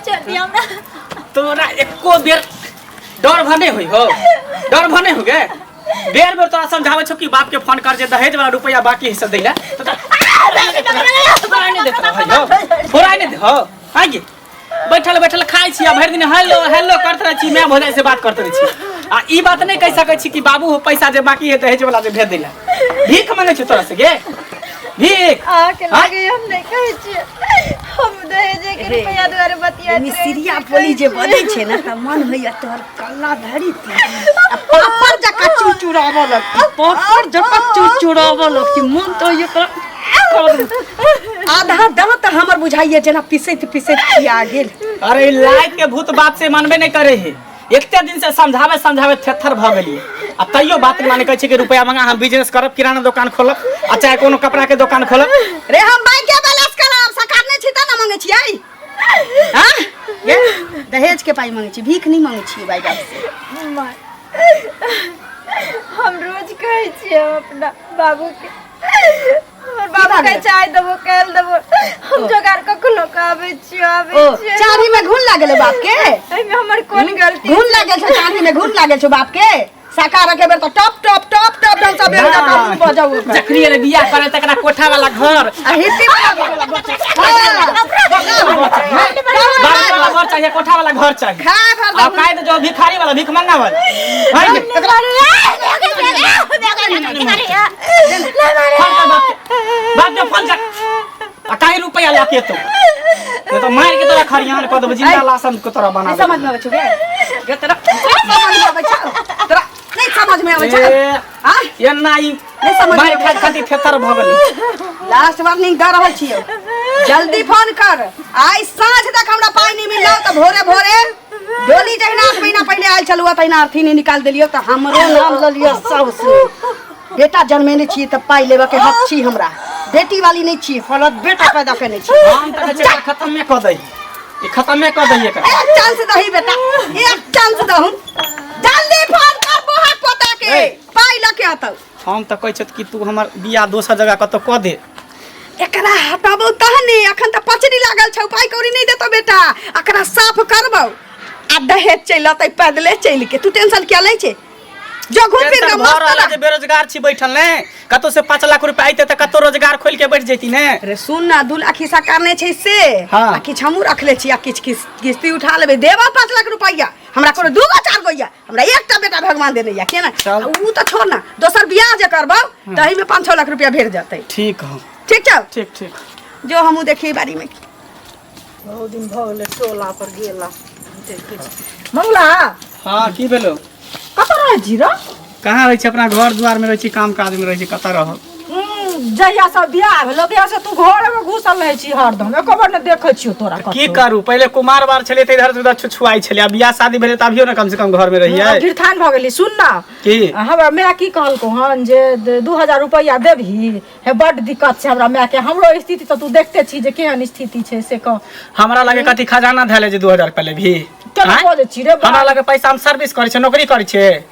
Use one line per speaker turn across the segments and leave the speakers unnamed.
छोड़िए हमरा तोरा
एको बेर डर भने होइ हो डर भने हो गे बेर बेर तोरा समझावे छौ कि बाप के फोन कर जे दहेज वाला रुपया बाकी हिस्सा दैला तो तोरा तोरा नहीं देत रहै हो तोरा नहीं दे हो आ गे बैठल बैठल खाइ छी आ भरि दिन हेलो हेलो करत रहै छी मैं भोजाई से बात करत रहै छी आ ई बात नहीं कह सकै छी कि बाबू हो पैसा जे बाकी है दहेज वाला जे भेज दैला भीख मांगे छी तोरा से गे भीख अहाँके लागे
हम नहि कहै छियै हम दहेजे के अरे, रुपैआ दुआरे बतिया मिस्त्रिया बोली जे
बनै छै ने तऽ मन होइया तोहर कल्ला धरी ती आ पापड़ जकाँ चुरचुराबऽ लगती पापड़ जकाँ चुरचुराबऽ लगती मन तऽ होइया तोरा करू। आधा दाँत हमर बुझाइया जेना पिसैत पिसैत खिया गेल अरे ई लाइट के
भूत बाप से मानबे नहीं करे है एते दिन से समझावे समझावे थेथर भ गेली आ तैयो बात माने कहै छै कि रुपया मंगा हम बिजनेस करब किराना दुकान खोलब आ चाहे कोनो कपड़ा के दुकान खोलब रे हम बैंक के
बैलेंस करब सरकार नै छी त न मंगे छियै हां ये दहेज के पाई मंगे छी भीख नै मंगे छी भाई बाप से
हम रोज कहै छियै अपना बाबू के हमर की बाबू भऽ के गेलै? चाय देबो काल देबो हम जोगाड़ कखनो के आबै छी आबै ओ छी चाभी में
घुन लागल बाप के एहि में हमर कोन
गलती घुन लागल छौ चांदी में
घुन लागल छौ बाप के साका रखे बेर तो टप टप टप टप टप सब बेर टप टप बजाऊ ओकर। जखनी अरे बियाह करे
तकरा कोठा वाला घर आ हिती बाबू वाला घर चाहिए कोठा वाला घर चाहिए खा भर आ काहे तो
जो भिखारी
वाला भिख मंगा वाला है ने? अकाई रुपया लाके तो ये तो मार के तोरा खरियान क देब जिंदा लाशन के तोरा बना देब समझ में आवे छौ के
ये तोरा समझ में आवे छौ तोरा नहीं समझ में आवे छौ हां ये नहीं
नहीं समझ मार खा
खाती थेतर
भ गेल लास्ट वार्निंग
दे रहल छियो जल्दी फोन कर आइ साँझ तक हमरा पानी मिलल त भोरे भोरे डोली जहिना आठ महीना पहिले आयल छलू तहिना अर्थी नहि निकाल देलियो तऽ हमरो नाम लऽ लिअ साउस बेटा जन्मेने छी तऽ पाइ लेबऽ के हक छी हमरा बेटी वाली नहि छी फलत बेटा पैदा केने छी हम तऽ कहै छियै खतमे
कऽ दही ई खतमे कऽ दही एकर एक चांस दही बेटा
एक चांस दहु जल्दी फोन कर बौहा पोता के पाइ लऽ के अतौ हम तऽ कहै छथि कि
तू हमर बियाह दोसर जगह कतौ कऽ दे एकरा
हटाबो तहने अखन तऽ पचड़ी लागल छौ पाइ कौड़ी नहि देतो बेटा एकरा साफ करबो आ दहेज चलि अतै पैदले चलि के तू टेंशन किया लै छे जो घूम फिर टेंशन के भऽ रहल है जे मस्त बेरोजगार छी बैठल
ने कतौ से पाँच लाख रुपया अइते तऽ कतौ रोजगार खोलि के बैठ जैती ने रे सुन ना दू लाख
हिस्सा करने छै से हाँ। आ किछु हमहूँ
रखले
छी आ किछु किस- किस्ती उठा लेबै देबऽ पाँच लाख रुपैआ हमरा कोनो दू गो चार गो यऽ हमरा एकटा बेटा भगवान देने या केना चल। उ त छोड़ ना दोसर बियाह जे करबो तही में 5-6 लाख रुपया भेट जतै ठीक हँ ठीक छौ
ठीक ठीक
जो
हमहूँ देखिए
बारी में बहुत दिन
भऽ गेलै टोला पर गेला देखै छी। मंगला
हँ की भेलो कतऽ रहै छी
रौ कहाँ रहै छी अपना
घर दुआरमे रहै छी काम काजमे रहै छी कतऽ रहब जहिया
से बियाह भेलो तहिया से तू घर में घुसल रहे छी हरदम एको बार ने देखे छियो तोरा की कतहु। करू पहिले कुमार
बार छलियै तऽ इधर से उधर छुछुआइ छलियै आब बियाह शादी भेलै तऽ अभियो ने कम से कम घर में रहियै गिरथान भऽ गेली सुन
ना की हमरा माय
की
कहलको हन जे द- दू हजार रुपैआ देबही हे बड्ड दिक्कत छै हमरा माय के हमरो स्थिति तऽ तू देखते छी जे केहन स्थिति छै से कह हमरा लगे कथी
खजाना धैले जे दू हजार रुपया लेबही केना आँय? बजै छी रे
बा? हमरा लगे पैसा हम सर्विस
करै छियै नौकरी करै छियै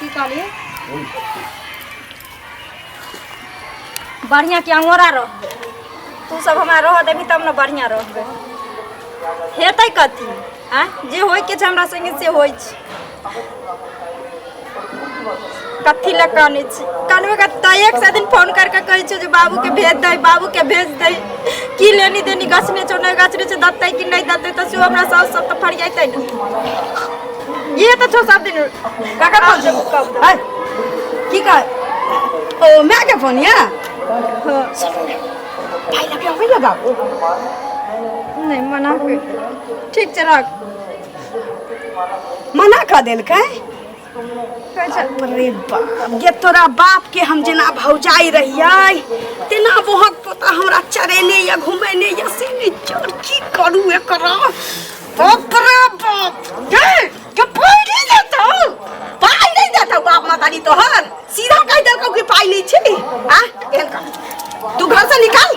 की कहलिए बढ़िया के अंगोरा रहबे तू सब हमरा रह देबी तब ने बढ़िया रहबे हेतै कथी आ जे होइके छै हमरा संगे से होइ छै कथी लए कानै छी कानबे का तयक से दिन फोन करके कहै छै जे बाबू के भेज दे बाबू के भेज दे की लेनी देनी गछने छौ नहि गछने छौ दत्तै कि नहि दत्तै तऽ सेहो हमरा साउस सब तऽ फरियाइतै ने ये तऽ छौ सब दिन ककर फोन छै
है की कह ओ माय के फोन या भाई लगे अबै
लगा नहि मना कर ठीक छै राख
मना कऽ देलकै अरे बाप जे तोरा बाप के हम जेना भौजाई रहियै तेना बहक पोता हमरा चरेने या घुमेने या से ने चोर की करू एकरा बाप रे बाप के के पाई नहीं देता पाई नहीं देता बाप मतारी तोहर सीधा कह देलकौ कि पाई नहीं छी आ एहन कर तू घर से निकाल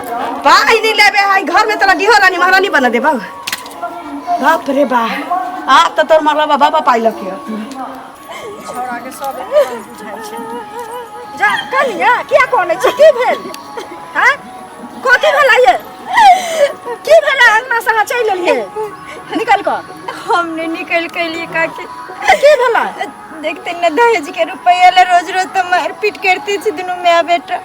पाई नहीं लेबे है घर में तोरा डिहो रानी महारानी बना दे बाबू बाप रे बा आ तो तोर मरला बाबा बा पाई लके छोड़ा के सब एकदम बुझाइ छै जा कनिया किया कोने छी की भेल हां कथी भेला ये की भेला अंगना से चलि लेलिए निकल कऽ हम नहीं निकल
के लिए काकी की भेला
देखते न
दहेज के रुपया ले रोज रोज तो मारपीट करते छी दुनू माय बेटा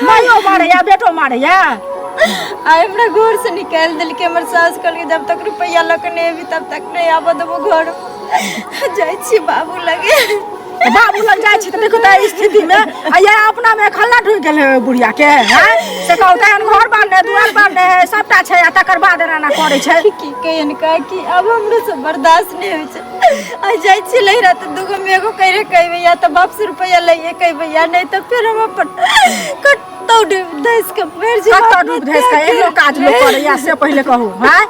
मायो मारे
या बेटो मारे या आ
हमरा घर से निकाल दिल के हमर सास कहल के जब तक रुपया ल के नहीं अभी तब तक नहीं आबो देबो घर जाइ छी बाबू लगे तो बाबू लग
जाए छी तो देखो तो एहि स्थिति में आ ये अपना में खल्ला ढुक गेल है बुढ़िया के हैं तो कहू तो एहन घर बांधे दुआर बांधे है सबटा छै आ तकर बाद एना एना करे छै की कहियन का
कि अब हमरो से बर्दाश्त नहीं होइ छै आ जाइ छी लहिरा तऽ दूगो मे एगो कहि कहि भैया तऽ बाप से रुपैआ लइए कहि भैया नहि तऽ फेर हम अपन कतौ डूब धस के मर जाएब कतऽ डूब धैस के एहनो
काज लोक करैया से पहिले कहू हैं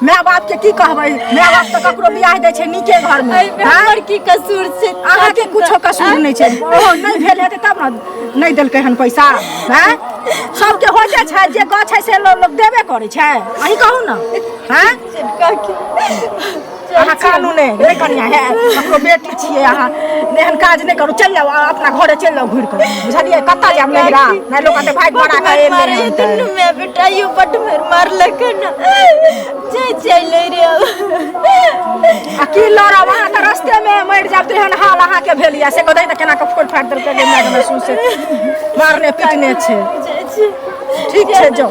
माय बाप के की कहबै माय बाप तऽ ककरो बियाह दै छै नीके घर में एहिमे हैं? हमर की कसूर
छै अहाँ के कुछो कसूर
नहि छै ओहो नहि भेल हेतै तब ने नहि देलकै हन पैसा हैं सबके हो जाइ छै जे गछ छै से लोक लोक देबे करै छै अहीं कहू ने हैं काकी अहाँ कानू ने नहि कनिया है हमरो बेटी छियै अहाँ नहि एहन काज नहि करू चलि जाउ अहाँ अपना घरे चलि जाउ घुरि कऽ बुझलियै कतऽ जायब नहिरा नहि लोक कहतै भागि भरा कऽ एलै मारे हन तऽ। दुनू मे
बेटाइयो बट मेर मारलक ना जय जय ले रे
आ की लड़ब अहाँ तऽ रस्ते मे मरि जायब तऽ एहन हाल अहाँके भेल यऽ से कहतै तऽ केना कऽ फोड़ फाड़ि देलकै जे मारि देलकै सुन से मारने पीटने छै जय जय ठीक छै जाउ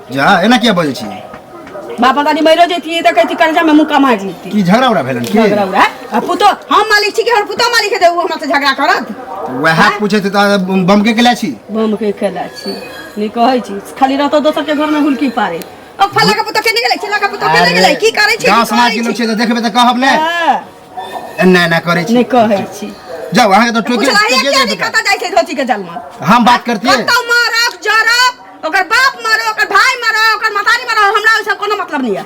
जा एना किया बजै
छी बाप मतारी
मरियो जैतियै तऽ कहती कर्जामे मुक्का मारि जैती की झगड़ा उड़ा भेलन की
झगड़ा उड़ा आ पुतो
हम मालिक छी कि हमर पुतो मालिक हेतै ओ हमरा से झगड़ा करत वएह पूछे
थे तऽ बम के केला छी बम के केला
छी नहि कहै छी खाली रहतो दोसर के घरमे हुलकी पारे ओ फल्ला के पुतो केने गेलै चिल्ला के पुतो केने गेलै की करै छी गाँव समाज के लोग छै तऽ देखबै
तऽ कहब ने ना ना करे छी नहीं कहे छी
जाओ अहाँ के तो टोके
पूछला टोके ये दे नहीं पता जाए
के धोती के जन्म हम बात करती है
कतौ मारब जरब
ओकर बाप मारो ओकर भाई मारो ओकर मतारी मारो हमरा ओइसे कोनो मतलब नहीं है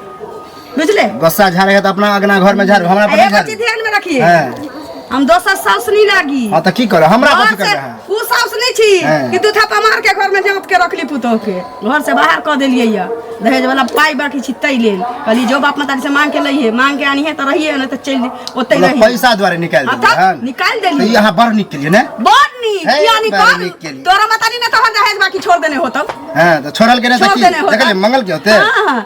बुझले गोस्सा झाड़ेगा तो
अपना अगना घर में झाड़ो हमरा पर नहीं एगो चीज झाड़ो ध्यान में रखिए
हाँ। हम दोसर साउस नहीं लागी हाँ तो की करो हमरा
और कथी से करबे अहाँ? उ साउस नहीं छी हाँ।
कि दूठा पमार के घर में जमत के रखली पुतोह के घरसँ बाहर कऽ देलियै यऽ दहेजवला पाइ बाकी छी ताहि लेल कहलियै जो बाप माताजीसँ माँग के लैहे माँग के आनिहे तऽ रहिए नहि तऽ चलि ओतहि मतलब रहिए पैसा द्वारे निकालि हँ, देलियै
तब हन? निकालि देलियै। तऽ ई अहाँ
बड़ नीक केलियै ने
बड़ नीक हे, किया बड़
निकाल नीक केलियै। तोरा माताजी ने तोहर दहेज बाकी छोड़ देने होतौ हँ तऽ छोड़ल के
नहि छोड़ देने देखलियै होतौ मंगल के होते हाँ, हाँ।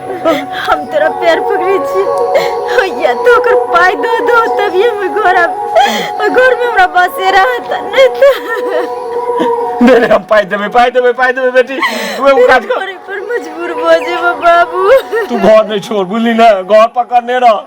हम तोरा पैर पकड़े छी होइया तो ओकर पाय दो दो तभी हम घर आब घर में हमरा बसेरा हता नहीं तो दे रे हम पाइ
देबै पाइ देबै पाइ देबै बेटी तू एगो काज कर पर मजबूर भऽ
जेबऽ बाबू तू घर नहि
छोड़ बुझली ने घर पकड़ने रह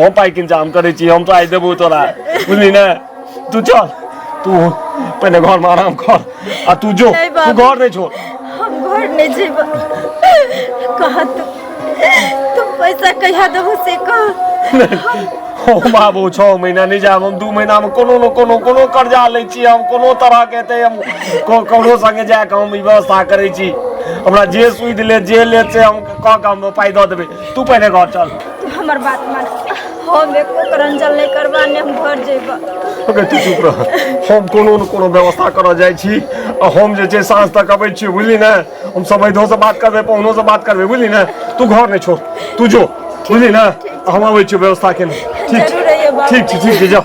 हम पाइ किन जाम करै छी हम तो आइ देबौ तोरा बुझली ने तू चल तू पहिने घरमे आराम कर आ तू जो नहि तू बाबू। घर नहि छोड़ हम घर नहीं
जेब कहा तू तू पैसा कहिया देबो से कह हम आबो
छओ महीना नहि जायब हम दू महीनामे कोनो ने कोनो कोनो कर्जा लै छी हम कोनो तरहके एतै हम को- ककरो सङ्गे जाए कऽ हम ई व्यवस्था करै छी हमरा जे सुधि लेत जे लेत से हम कऽ कऽ हम पाइ दऽ देबै तू पहले घर चल तू हमर बात मान
हम एको करंजल नहीं करबा ने हम घर जेबा ओके तू चुप
रह हम कोनो न कोनो व्यवस्था करऽ जाइ छी आ हम जे छै साँझ तक अबै छियै बुझली ने हम समैधो से बात करबै पहुनो से बात करबै बुझली ने तू घर नहि छोड़ तू जो बुझली ने हम अबै छियै व्यवस्था केने ठीक छै जरूर अइहे बाबू। ठीक छै ठीक छै जाओ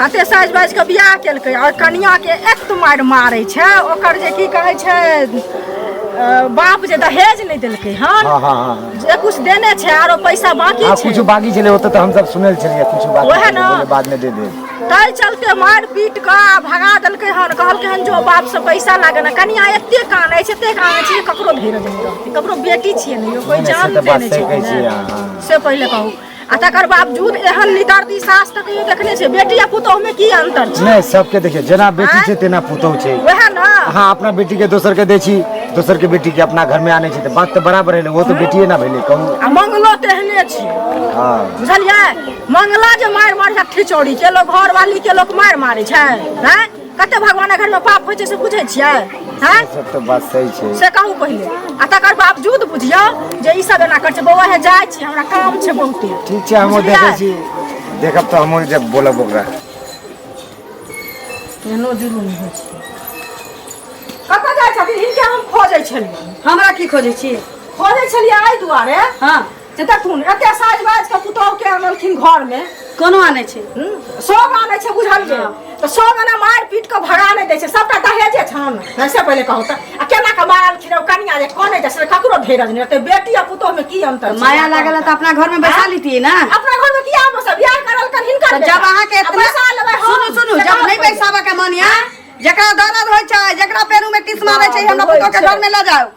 कते साजि
बाजि कऽ बियाह केलकै आओर कनियाके एक मारि मारै छै ओकर जे की कहै छै अ, बाप जे दहेज नहि देलकै हन हाँ हाँ हाँ जे कुछ
देने
छै आरो पैसा बाकी हाँ, छै कुछ बाकी चले होते तो हम
सब सुनल चलिए कुछ बाकी ओहे चले, ना। बोले बाद में दे
दे
ताहि चलते
मारि पीट कऽ आ भगा देलकै हन कहलकै हन जो बाप से पैसा लागे ने कनिया एते कानै छै एते कानै छै जे ककरो धीरज नहि रहतै ककरो बेटी छियै ने यौ कोई नहि, से जान तऽ बात देने सही छै कहै कि छियै नहि। अहाँ। से पहिले कहू आ तकर बावजूद एहन निदर्दी सास तऽ कहियो देखने छै बेटी आ पुतोहमे की अन्तर छै नहि सबके देखियौ जेना
बेटी छै तेना पुतहु छै वएह ने अहाँ अपना
बेटी के
दोसर के दै छी दोसर के बेटी के अपना घर में आने छी तऽ बात तऽ बराबर है वो तो बेटिए ना भेलै कहू आ मंगलो तेहने
छी हाँ
बुझलियै
मंगला जे मारि मारि छै खिचौड़ी के लोग घर वाली के लोग मारि मारै छै हैं कते भगवान घर में पाप होइ छै से बुझै छियै हैं सब तो बात सही
छै से कहू पहिले
आ तकर बावजूद बुझियो जे ई सब एना कर छै बौआ हे जाय छी हमरा काम छै बहुते ठीक छै हम देखै
छी देखब तो हम जब बोलब ओकरा
एनो जुलूम होइ छै कतऽ जाइ छथिन हिनके हम खोजै छलियै हमरा की खोजै छी खोजै छलियै एहि दुआरे हाँ से देखथुन एते साज बाज के पुतोह के अनलखिन घर में कोनो आनै छै हम्म, सब आनै छै बुझलियै तऽ सब एना मारि पीट कऽ भगा नहि दै छै सबटा दहेजे छन ऐसे पहिले कहू तऽ आ केना कऽ मारलखिन ओ कनिया जे कनै छै से ककरो धीरज नहि रहतै बेटी आ पुतोह में की अन्तर छै? माया लागल है तऽ अपना घर
में बैठा लेतियै ना अपना घर में किया बस
बियाह करल कर हिनकर तऽ जब अहाँ के इतना पैसा
लेबै हम सुनू सुनू
जब नहि
बैसाबऽ के मन या जकरा दर्द होइ छै जकरा पेरू में टिस मारै छै हमरा पुतोह के घर में लऽ जाओ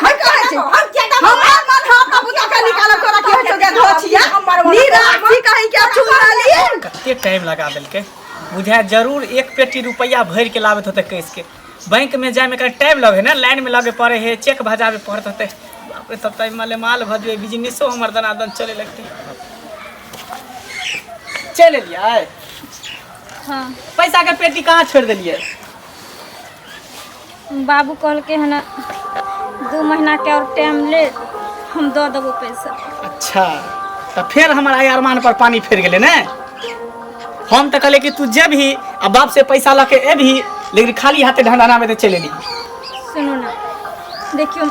हम कहै छी हम किया दम हमरा मन हम अपना पुता के निकालब तोरा के होय छौ के धोछिया नीरा की कहि के चुरा लिए कते टाइम लगा
देलकै बुझाय जरूर एक पेटी रुपैआ भरि के लाबैत होतै कैस के बैंक में जाए में कहीं टाइम लगे ना लाइन में लगे पड़े है चेक भजावे पड़त होतै बाप रे तब तक माले माल भऽ जेबै बिजनेसो हमर दनादन चले लगतै चलि एलियै हाँ
पैसा के
पेटी कहाँ छोड़ि देलियै
बाबू कहलकै हन दू महीनाके आओर टाइम ले हम दऽ देबो पैसा अच्छा
तऽ फेर हमर आइ अरमान पर पानी फेर गेलै ने हम तऽ कहले कि तू जेबही आ बाप से पैसा लऽ के एबही लेकिन खाली हाथे ढंढाना में तऽ चलि एली सुनू ने
देखियौ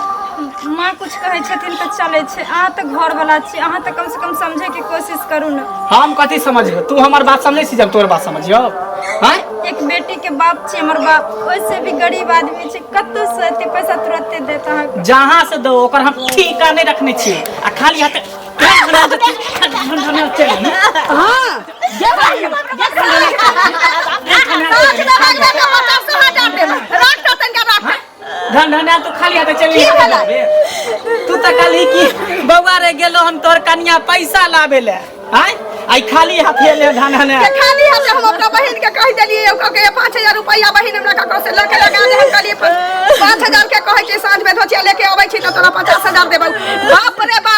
माँ कुछ कहै छथिन तऽ चलै छै अहाँ तऽ घरवला छी अहाँ तऽ कमसँ कम समझैके कोशिश करू ने हम कथी समझियो
तू हमर बात समझै छी जब तोर बात समझियो हैं एक बेटी के
बाप छी हमर बाप ओइसे भी गरीब आदमी छै कतौ से एते पैसा तुरंते देत अहाँके जहाँ से दो ओकर हम
ठीका नहीं रखने छी आ खाली हाथ
हाँ
धन धना तू खाली हाथ चली की भेलै? तू तऽ कहली कि बौआ रे गेलो हम तोहर कनिया पैसा लाबे ले आय आई खाली हाथ ले धन धना के खाली हाथ हम अपना
बहिन के कह देलिए ओकर के 5000 रुपया बहिन हमरा ककरो से लके लगा दे हम कहलिए 5000 के कहै छै साँझ में धोतिया लेके अबै छी तऽ तोरा 50000 देबौ बाप रे बा